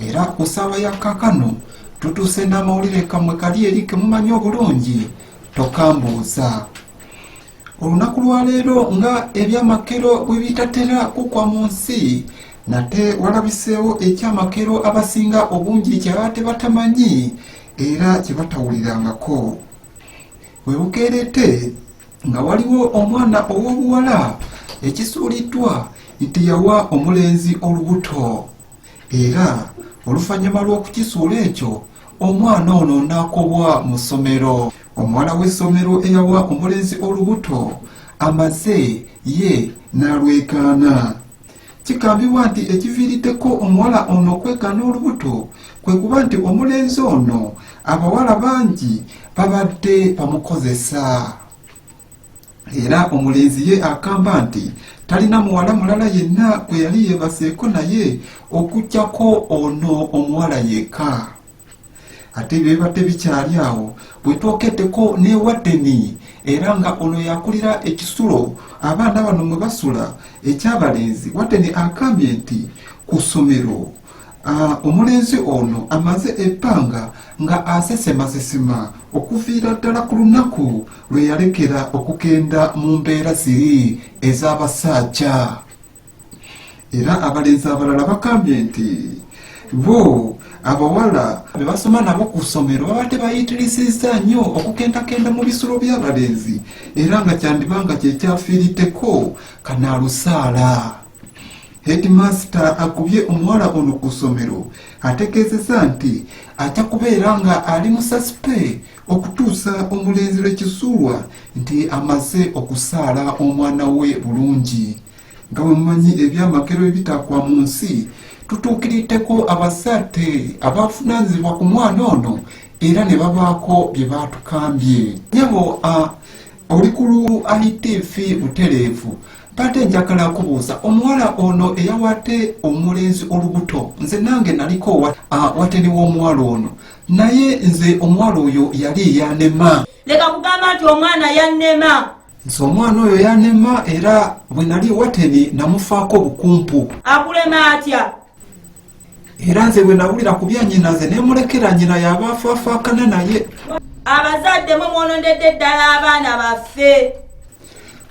era ku ssaawa ya kakano tutuuse n'amawulire kamwe kali eri kemumanyi obulungi tokambuuza olunaku lwaleero nga ebyamakero bwe bitatera kukwa mu nsi nate walabiseewo ekyamakero abasinga obungi kyaba tebatamanyi era kyebatawulirangako bwe bukeerete nga waliwo omwana ow'obuwala ekisuuliddwa nti yawa omulenzi olubuto era oluvannyuma lw'okukisuula ekyo omwana ono n'akobwa mu ssomero omuwala w'essomero eyawa omulenzi olubuto amaze ye n'alwegaana kigambibwa nti ekiviiriddeko omuwala ono okwegaana olubuto kwe kuba nti omulenzi ono abawala bangi babadde bamukozesa era omulenzi ye akamba nti talina muwala mulala yenna gwe yali yeebaseeko naye okujjako ono omuwala yekka ate byebibadde bikyali awo bwetwokeddeko newadeni era nga ono yakulira ekisulo abaana bano mwe basula ekyabalenzi wadeni agambye nti ku ssomero Ah, omulenzi ono amaze ebbanga nga asesemasesema okuviira ddala ku lunaku lwe yalekera okugenda mu mbeera ziri ez'abasaajja era abalenzi abalala bakambye nti bo abawala be basoma nabo ku ssomero babadde bayitirisizza nnyo okukendakenda mu bisulo by'abalenzi era nga kyandiba nga kyekyafiiriddeko kanaalusaala Heedimaasita agobye omuwala ono ku ssomero ategeezezza nti ajja kubeera nga ali mu sasipe okutuusa omulenzi lwe kisuulwa nti amaze okusaala omwana we bulungi nga bwe mumanyi ebyamagero ebitakwa mu nsi tutuukiriddeko abasaate abafunanzibwa ku mwana ono era ne babaako bye baatukambye nyabo oli ku lu itv butereevu Mbadde njagala kubuuza omuwala ono eyawadde omulenzi olubuto nze nange naliko wateni w'omuwala ono naye nze omuwala oyo yali yanema leka kugamba nti omwana yanema nze omwana oyo yanema era bwe nali wateni namufaako obukumpu akulema atya era nze bwe nawulira ku bya nyina nze ne mulekera nyina yaba afaafaakana naye abazadde mwe mwonondedde ddala abaana baffe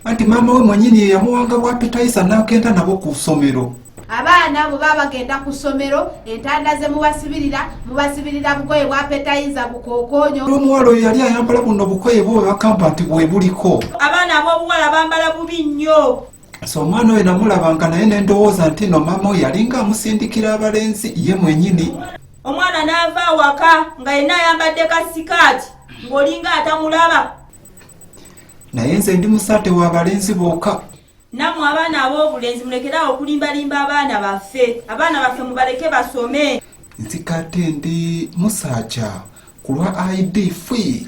anti maama we mwenyini ye yamuwanga bwapitayisa n'agenda nabo ku ssomero abaana bwe baba bagenda ku ssomero entanda ze mubasibirira mubasibirira bugoye bwapetayiza bukookonyo omuwala oyo yali ayambala buno bukoye bwe bakampati bwe buliko abaana ab'obuwala bambala bubi nnyo so omwana oyo namulabanga naye nendowooza nti no maama oyo yalinga amusindikira abalenzi ye mwenyini omwana naava awaka nga yenna ayambadde ka sikaati ng'olinga atamulaba naye nze ndi musate wa balenzi bokka namwe abaana ab'obulenzi mulekeraawo okulimbalimba abaana baffe abaana baffe mubaleke basome nzikate ndi musaaja kulwa id fee